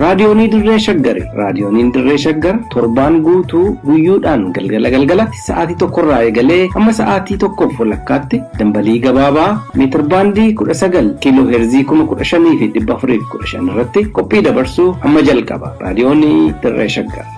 Raadiyoonii Dirree Shaggari. Raadiyooniin Dirree Shaggar torbaan guutuu guyyuudhaan galgala galgalatti sa'aatii tokkorraa eegalee hamma sa'aatii tokkoof walakkaatti dambalii gabaabaa meetirbaandii 19 kiiloo heerzii 15415 irratti qophii dabarsuu amma jalqaba. Raadiyoonii Dirree Shaggar.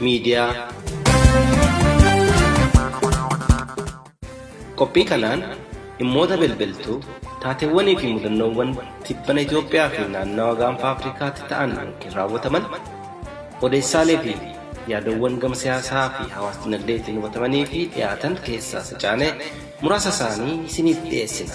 miidiyaa. Qophii kanaan dhimmoota bilbiltuu, taateewwanii fi mudannoowwan tibbana Itoophiyaa fi naannawa gaanfa Afrikaatti ta'an yookiin raawwataman, odeessaalee fi yaadawwan gama siyaasaa fi hawaas-dinagdeetiin hubatamanii fi dhiyaatan keessaa sacaanee muraasa isaanii isiniif dhiyeessina.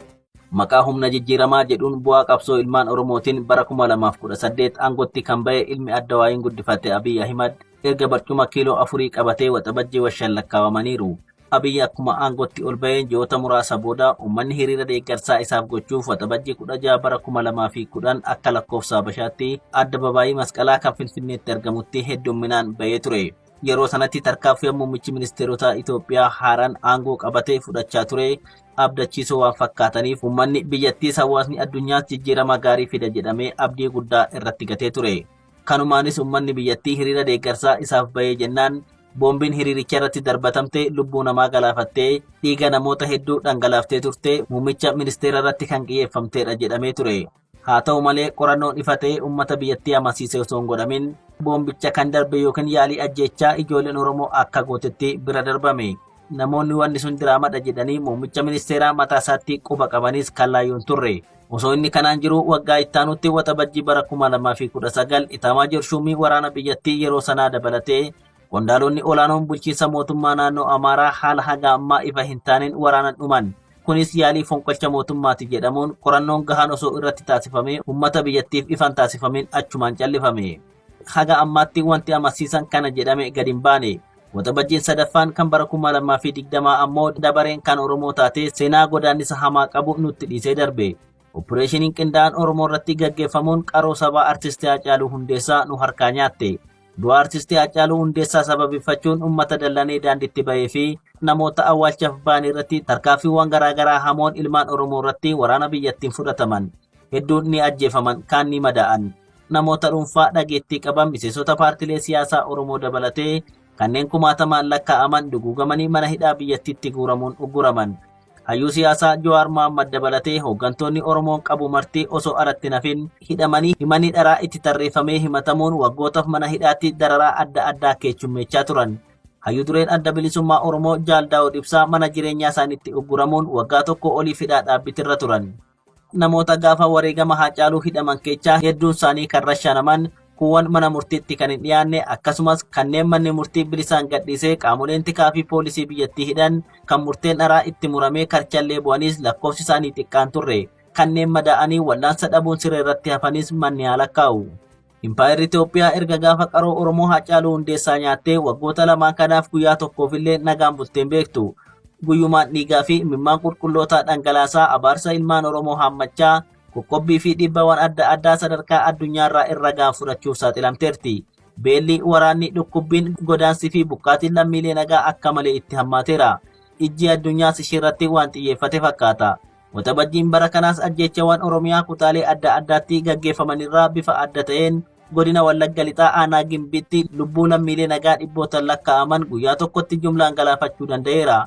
Maqaa humna jijjiiramaa jedhuun bu'aa qabsoo ilmaan Oromootiin bara 2018 aangotti kan ba'e ilmi adda waayiin guddifate Abiy Ahimad erga barcuma kiiloo afurii qabatee waxabajjii washan lakkaawamaniiru. Abiy akkuma aangotti ol ba'een ji'oota muraasa booda uummanni hiriira deeggarsaa isaaf gochuuf waxabajjii 16 bara 2010 akka lakkoofsa Habashaatti adda babaayii masqalaa kan Finfinneetti argamutti heddumminaan ba'ee ture. Yeroo sanatti tarkaanfiin muummichi ministeerotaa Itoophiyaa haaraan aangoo qabatee fudhachaa ture abdachiisoo waan fakkaataniif uummanni biyyattiis hawaasni addunyaas jijjiirama gaarii fida jedhamee abdii guddaa irratti gatee ture. Kanumaanis uummanni biyyattii hiriira deeggarsaa isaaf bahee jennaan boombiin hiriiricha irratti darbatamte lubbuu namaa galaafattee dhiiga namoota hedduu dhangalaaftee turte muummicha ministeera irratti kan qiyyeeffamteedha jedhamee ture. Haa ta'u malee qorannoon ifa ta'ee uummata biyyattii amansiise osoo hin godhamin boombicha kan darbe yookiin yaalii ajjeechaa ijoolleen Oromoo akka gootetti bira darbame. Namoonni wanni sun diraamadha jedhanii muummicha ministeeraa mataa isaatti quba qabanis kan laayyoo hin turre. Osoo inni kanaan jiruu waggaa ittaanutti waxabajjii bara 2019 itaamaajoor shuumii waraana biyyattii yeroo sanaa dabalatee Qondaalonni olaanoon bulchiinsa mootummaa naannoo Amaaraa haala haga ammaa ifa hin taaneen waraanan dhuman. Kunis yaalii fonqolcha mootummaati jedhamuun qorannoon gahaan osoo irratti taasifamee uummata biyyattiif ifan taasifameen achumaan callifame. Haga ammaatti wanti amansiisan kana jedhame gad hin baane. Waxabajjiin sadaffaan kan bara 2020 ammoo dabareen kan Oromoo taatee seenaa godaannisa hamaa qabu nutti dhiisee darbe. Oppireeshiniin qindaa'an Oromoo irratti gaggeeffamuun qaroo sabaa Artisti Haacaaluu Hundeessaa nu harkaa nyaatte. Du'a Artistii Haacaaluu Hundeessaa sababeeffachuun uummata dallanee daandiitti bahee fi namoota awwaalchaaf bahan irratti tarkaanfiiwwan garaagaraa hamoon ilmaan Oromoo irratti waraana biyyattiin fudhataman. Hedduun ni ajjeefaman, kaan ni madaa'an. Namoota dhuunfaa dhageettii qaban miseensota paartilee siyaasaa Oromoo dabalatee kanneen kumaatamaan lakkaa'aman duguugamanii mana hidhaa biyyattiitti guuramuun ugguraman. Hayyuu siyaasaa Jawaar Mohammad dabalatee hooggantoonni Oromoon qabu marti osoo alatti hin hafin hidhamanii himanni dharaa itti tarreeffamee himatamuun waggootaf mana hidhaatti dararaa adda addaa keechummeechaa turan. Hayyuu dureen Adda Bilisummaa Oromoo Jaal Daawud Ibsaa mana jireenyaa isaaniitti ugguramuun waggaa tokkoo oliif hidhaa dhaabbitirra turan. Namoota gaafa wareegama Haacaaluu hidhaman keechaa hedduun isaanii kan rashaanaman, kuuwwan mana murtiitti kan hin dhiyaanne, akkasumas kanneen manni murtii bilisaan gadhiisee qaamoleen tikaa fi poolisii biyyattii hidhan, kan murteen dharaa itti muramee karchallee bu'aniis lakkoofsi isaanii xiqqaan turre. Kanneen madaa'anii wal'aansa dhabuun siree irratti hafanis manni haa lakkaa'u. Impaayerri Itoophiyaa erga gaafa qaroo Oromoo Haacaaluu Hundeessaa nyaattee waggoota lamaan kanaaf guyyaa tokkoofillee nagaan bulteen beektu. Guyyumaan dhiigaa fi imimmaan qulqullootaa dhangalaasaa abaarsa ilmaan Oromoo haammachaa qoqqobbii fi dhiibbawwan adda addaa sadarkaa addunyaarraa irra ga'an fudhachuuf saaxilamteerti. Beelli, waraanni, dhukkubbiin, godaansii fi buqqaatiin lammiilee nagaa akka malee itti hammaateera. Ijji addunyaas isheerratti waan xiyyeeffate fakkaata. Waxabajjiin bara kanaas ajjeechawwan Oromiyaa kutaalee adda addaatti gaggeeffamanirraa bifa adda ta'een godina Wallagga Lixaa aanaa Gimbiitti lubbuu lammiilee nagaa dhibbootaan lakkaa'aman guyyaa tokkotti jumlaan galaafachuu danda'eera.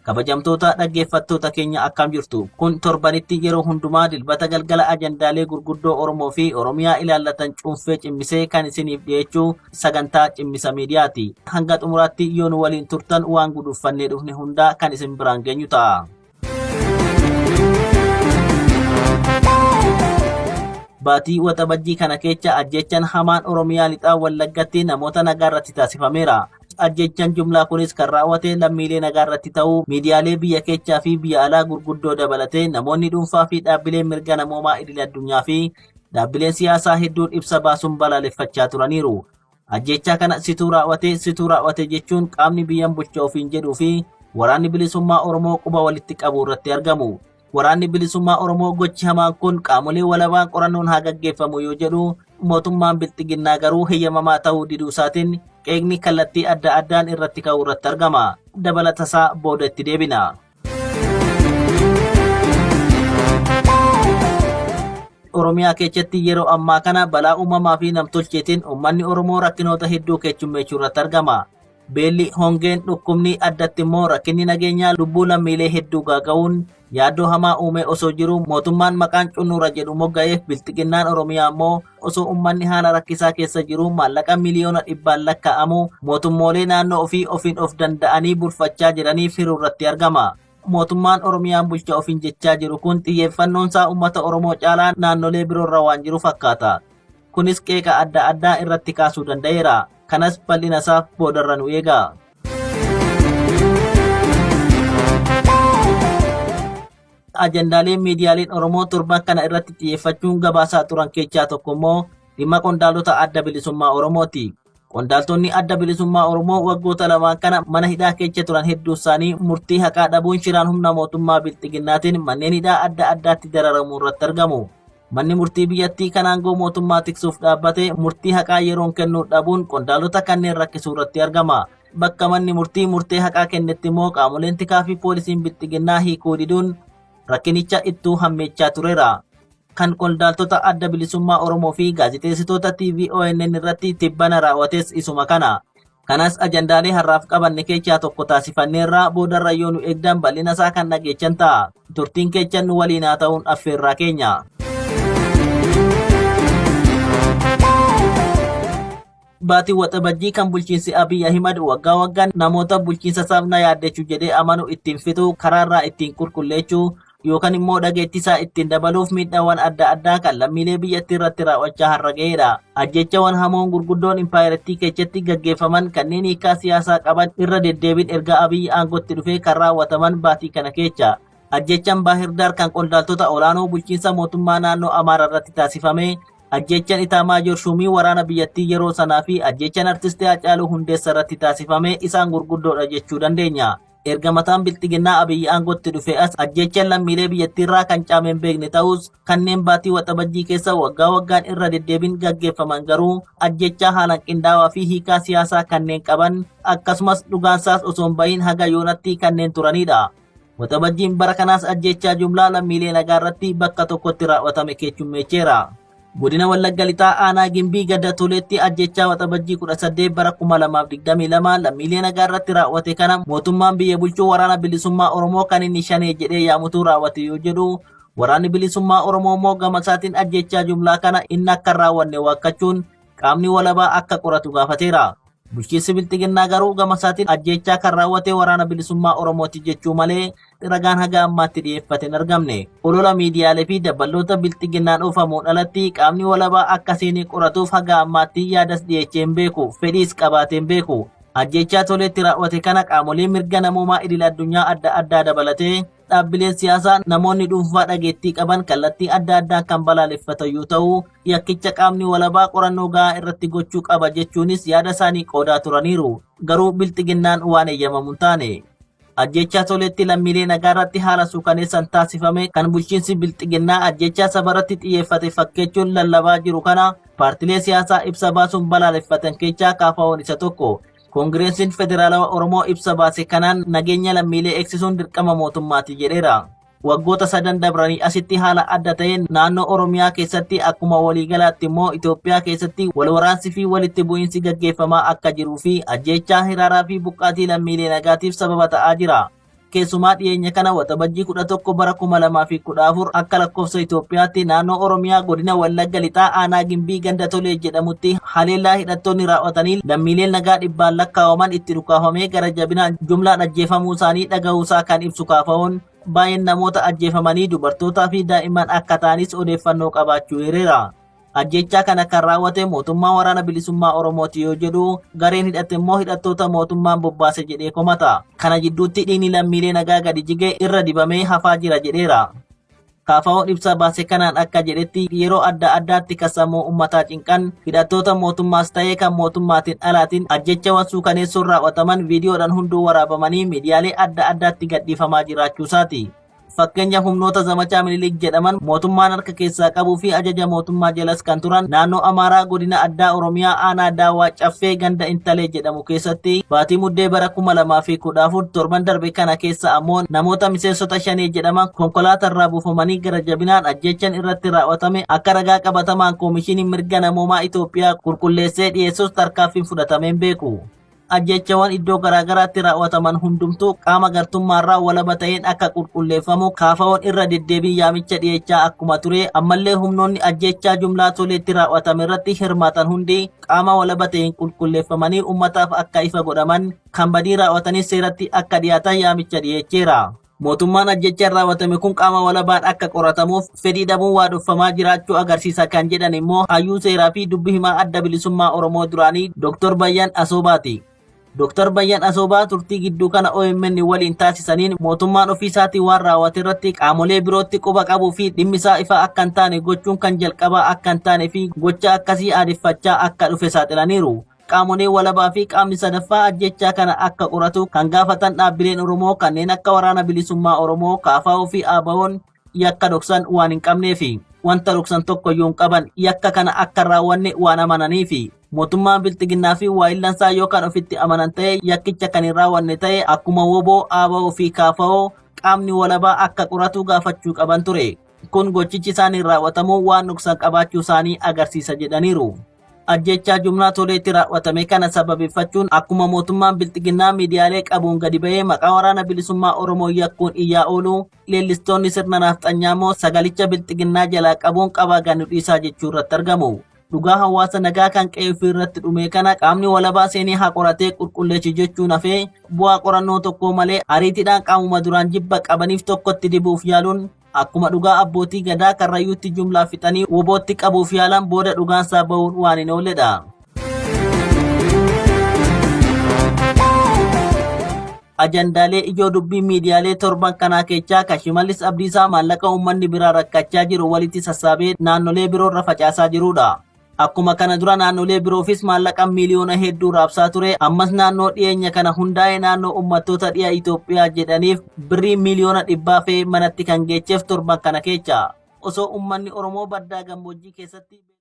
Kabajamtoota dhaggeeffattoota keenya akkam jirtu? Kun torbanitti yeroo hundumaa dilbata galgala ajandaalee gurguddoo Oromoo fi Oromiyaa ilaallatan cuunfee cimmisee kan isiniif dhiyeechuu sagantaa cimmisa miidiyaati. Hanga xumuraatti yoo nu waliin turtan waan guduuffannee dhufne hundaa kan isin biraan geenyu ta'a. Baatii Waxabajjii kana keessa ajjechaan hamaan Oromiyaa lixaa Wallaggatti namoota nagaa irratti taasifameera. Ajjechaan jumlaa kunis kan raawwate lammiilee nagaa irratti ta'uu miidiyaalee biyya keessaa fi biyya alaa gurguddoo dabalatee namoonni dhuunfaa fi dhaabbileen mirga namoomaa idil addunyaa fi dhaabbileen siyaasaa hedduun ibsa baasuun balaaleffachaa turaniiru. Ajjeechaa kana situu raawwate situu raawwate jechuun qaamni biyyan bulcha ofiin jedhuu fi waraanni bilisummaa Oromoo quba walitti qabuu irratti argamu. Waraanni bilisummaa Oromoo gochi hamaan kun qaamolee walabaan qorannoon haa gaggeeffamu yoo jedhu mootummaan bilxiginnaa garuu heyyamamaa ta'uu diduu isaatiin qeeqni kallattii adda addaan irratti ka'uu irratti argama. Dabalata isaa booda itti deebina. Oromiyaa keessatti yeroo ammaa kana balaa uumamaa fi namtolcheetiin uummanni Oromoo rakkinoota hedduu keessummeessuu irratti argama. Beelli, hongeen, dhukkubni addatti immoo rakkinni nageenyaa lubbuu lammiilee hedduu gaaga'uun yaaddoo hamaa uumee osoo jiruu mootummaan maqaan cunnuura jedhu mogga'eef bilxiginnaan Oromiyaa immoo osoo ummanni haala rakkisaa keessa jiruu maallaqa miliyoona dhibbaan lakkaa'amu mootummoolee naannoo ofii ofiin of danda'anii bulfachaa jiranii firuu irratti argama. Mootummaan Oromiyaan bulcha ofiin jechaa jiru kun xiyyeeffannoon isaa uummata Oromoo caalaa naannolee biroorra waan jiru fakkaata. Kunis qeeqa adda addaa irratti kaasuu danda'eera. Kanas bal'ina isaaf boodarra nu eega. ajandaaleen miidiyaaleen Oromoo torban kana irratti xiyyeeffachuun gabaasaa turan keessaa tokko immoo dhimma qondaalota adda bilisummaa Oromooti. Qondaaltonni adda bilisummaa Oromoo waggoota lamaan kana mana hidhaa keessa turan hedduu isaanii murtii haqaa dhabuun shiraan humna mootummaa bilxiginnaatiin manneen hidhaa adda addaatti dararamuu irratti argamu. Manni murtii biyyattii kan aangoo mootummaa tiksuuf dhaabbate murtii haqaa yeroon kennuu dhabuun qondaalota kanneen rakkisuu irratti argama. Bakka manni murtii murtee haqaa kennetti immoo qaamoleen tikaa fi poolisiin bilxiginnaa hiikuu diduun rakkinicha ittuu hammeechaa tureera. Kan qondaaltota adda bilisummaa Oromoo fi gaazexeessitoota TV ONN irratti tibbana raawwates isuma kana. Kanas ajandaalee har'aaf qabanne keechaa tokko taasifanneerraa boodarra yoo nu eegdan bal'ina isaa kan dhageechan ta'a. Turtiin keechan nu waliin haa ta'uun affeerraa keenya. Baatiin waxabajjii kan bulchiinsi Abiy Ahimad waggaa waggaan namoota bulchiinsa isaaf na yaaddechu jedhee amanu ittiin fixu karaarraa ittiin qulqulleechuu yookaan immoo dhageettii isaa ittiin dabaluuf miidhaawwan adda addaa kan lammiilee biyyattii irratti raawwachaa har'a ga'eera. Ajjeechawwan hamoon gurguddoon impaayerattii keessatti gaggeeffaman kanneen hiikaa siyaasaa qaban irra deddeebiin erga Abiyyi aangootti dhufee kan raawwataman baatii kana keessa. Ajjeechaan Baahirdaar kan qondaaltota olaanoo bulchiinsa mootummaa naannoo Amaaraa irratti taasifame, ajjeechaan Itaamaajoor Shuumii waraana biyyattii yeroo sanaa fi ajjeechaan artistii Haacaaluu Hundeessaa irratti taasifame isaan gurguddoodha jechuu dandeenya. Erga mataan bilxiginnaa Abiyyi aangootti dhufee as ajjeechaan lammiilee biyyattiirraa kan caame hin beekne ta'us kanneen baatii waxabajjii keessa waggaa waggaan irra deddeebiin gaggeeffaman garuu ajjeechaa haalaan qindaawaa fi hiikaa siyaasaa kanneen qaban akkasumas dhugaansaas osoo hin bahin haga yoonatti kanneen turanidha. Waxabajjiin bara kanaas ajjeechaa jumlaa lammiilee nagaa irratti bakka tokkotti raawwatame keechummeecheera. Godina Wallagga Lixaa Aanaa Gimbii Gadda Tuleetti ajjechaa Waxabajjii 18 bara 2022 lammiilee nagaa irratti raawwate kana mootummaan biyya bulchuu waraana bilisummaa Oromoo kan inni shanee jedhee yaamutu raawwate yoo jedhu waraanni bilisummaa Oromoo immoo gama isaatiin ajjechaa jumlaa kana inni akka hin raawwanne waakkachuun qaamni walabaa akka qoratu gaafateera. Bulchiinsi Bilxiginnaa garuu gamasaatiin ajjeechaa kan raawwate Waraana Bilisummaa Oromooti jechuu malee ragaan haga ammaatti dhiyeeffate hin argamne. Olola miidiyaalee fi dabballoota Bilxiginnaan oofamuun alatti qaamni walabaa akka seenee qoratuuf haga ammaatti yaadas dhiyeechee hin beeku, fedhiis qabaatee hin beeku. Ajjeechaa Toleetti raawwate kana qaamolee mirga namoomaa idil addunyaa adda addaa dabalatee Dhaabbileen siyaasaa namoonni dhuunfaa dhageettii qaban kallattii adda addaan kan balaaleffatayyuu ta'u yakkicha qaamni walabaa qorannoo gahaa irratti gochuu qaba jechuunis yaada isaanii qoodaa turaniiru. Garuu bilxiginnaan waan eeyyamamu hin taane. Ajjechaa soleetti lammiilee nagaa irratti haala suukaneessan taasifame kan bulchiinsi bilxiginnaa ajjechaa saba irratti xiyyeeffate fakkeechuun lallabaa jiru kana paartilee siyaasaa ibsa baasuun balaaleffatan keessaa kaafaa'oon isa tokko. Koongireesiin Federaalawa Oromoo ibsa baase kanaan nageenya lammiilee eegsisuun dirqama mootummaati jedheera. Waggoota sadan dabranii asitti haala adda ta'een naannoo Oromiyaa keessatti akkuma waliigalaatti immoo Itoophiyaa keessatti walwaraansi fi walitti bu'iinsi gaggeeffamaa akka jiruu fi ajjeechaa hiraaraa fi buqqaatii lammiilee nagaatiif sababa ta'aa jira. Keessumaa dhiyeenya kana waxabajjii 11 bara 2014 akka lakkoofsa Itoophiyaatti naannoo Oromiyaa godina Wallagga Lixaa aanaa Gimbii ganda Tolee jedhamutti haleellaa hidhattoonni raawwatanii lammiileen nagaa dhibbaan lakkaa'aman itti dhukaafamee gara jabinaan jumlaan ajjeefamuu isaanii dhaga'uusaa kan ibsu kaafaa'oon baay'een namoota ajjeefamanii dubartootaa fi daa'imman akka ta'anis odeeffannoo qabaachuu hireera. Ajjeechaa kana kan raawwate mootummaa waraana bilisummaa Oromooti yoo jedhu, gareen hidhate immoo hidhattoota mootummaan bobbaase jedhee komata. Kana jidduutti dhiigni lammiilee nagaa gadi jige irra dibamee hafaa jira jedheera. Kaafawoon ibsa baase kanaan akka jedhetti yeroo adda addaatti kan sammuu ummataa cinqan hidhattoota mootummaas ta'ee kan mootummaatiin alaatiin ajjechawan suukaneessoon raawwataman viidiyoodhaan hunduu waraabamanii miidiyaalee adda addaatti gadhiifamaa jiraachuusaati. Fakkeenya humnoota zamachaa Minilik jedhaman mootummaan harka keessaa qabuu fi ajaja mootummaa jalas kan turan naannoo Amaaraa godina addaa Oromiyaa aanaa Daawaa Caffee ganda Intalee jedhamu keessatti baatii muddee bara 2014 torban darbe kana keessa ammoo namoota miseensota shanee jedhaman konkolaatarraa buufamanii gara jabinaan ajjechan irratti raawwatame akka ragaa qabatamaan koomishiniin mirga namoomaa Itoophiyaa qulqulleessee dhiyeessus tarkaanfiin fudhatameen beeku. Ajjeechawan iddoo garaagaraatti raawwataman hundumtuu qaama gartummaarraa walaba ta'een akka qulqulleeffamu kaafawoon irra deddeebiin yaamicha dhiyeechaa akkuma ture ammallee humnoonni ajjeechaa jumlaa toleetti raawwatame irratti hirmaatan hundi qaama walaba ta'een qulqulleeffamanii ummataaf akka ifa godhaman kan badii raawwatanis seeratti akka dhiyaatan yaamicha dhiyeecheera. Mootummaan ajjechaan raawwatame kun qaama walabaan akka qoratamuuf fedhii dhabuun waa dhoffamaa jiraachuu agarsiisa kan jedhan immoo hayyuu seeraa fi dubbi himaa adda bilisummaa Oromoo duraanii Dr. Bayyan Asoobaati. Dr. Bayyan Asoobaa turtii gidduu kana OMN waliin taasisaniin mootummaan ofiisaatiin waan raawwate irratti qaamolee birootti quba qabuu fi dhimmisaa ifaa akka hin taane gochuun kan jalqabaa akka hin taane fi gocha akkasii aadeffachaa akka dhufe saaxilaniiru. Qaamolee walabaa fi qaamni sadaffaa ajjeechaa kana akka qoratu kan gaafatan dhaabbileen Oromoo kanneen akka Waraana Bilisummaa Oromoo, KFO fi ABOn yakka dhoksan waan hin qabneefi. Wanta dhoksan tokkoyyuu hin qaban. Yakka kana akka hin raawwanne waan amananiifi. Mootummaan Bilxiginnaa fi waayillansaa yoo kan ofitti amanan ta'e yakkicha kan hin raawwanne ta'e akkuma wbo, ABO fi KFO qaamni walabaa akka qoratu gaafachuu qaban ture. Kun gochichi isaaniin raawwatamu waan dhoksan qabaachuu isaanii agarsiisa jedhaniiru. Ajjechaa jumlaa toleetti raawwatame kana sababeeffachuun akkuma mootummaan bilxiginnaa miidiyaalee qabuun gadi ba'ee maqaa waraana bilisummaa Oromoo yakkuun iyyaa oolu leellistoonni sirna naafxanyaa immoo sagalicha bilxiginnaa jalaa qabuun qabaa ganu dhiisaa jechuu irratti argamu. Dhugaa hawaasa nagaa kan qe'ee ofii irratti dhumee kana qaamni walabaa seenee haa qoratee qulqulleessi jechuun hafee bu'aa qorannoo tokkoo malee ariitiidhaan qaamuma duraan jibba qabaniif tokkotti dibuuf yaaluun Akkuma dhugaa abbootii gadaa karrayyuutti jumlaa fixanii wobootti qabuuf yaalan booda dhugaansaa ba'uun waan hin oolledha. Ajandaalee ijoo dubbii miidiyaalee torban kanaa keessaa kan Shimallis Abdiisaa maallaqa uummanni biraa rakkachaa jiru walitti sassaabee naannolee biroorra facaasaa jirudha. Akkuma kana dura naannolee biroofis maallaqa miiliyoona hedduu raabsaa ture ammas naannoo dhiyeenya kana hundaa'e naannoo uummattoota dhiya Itoophiyaa jedhaniif birrii miiliyoona dhibbaa fe'ee manatti kan geecheef torban kana keecha osoo uummanni Oromoo baddaa gammoojjii keessatti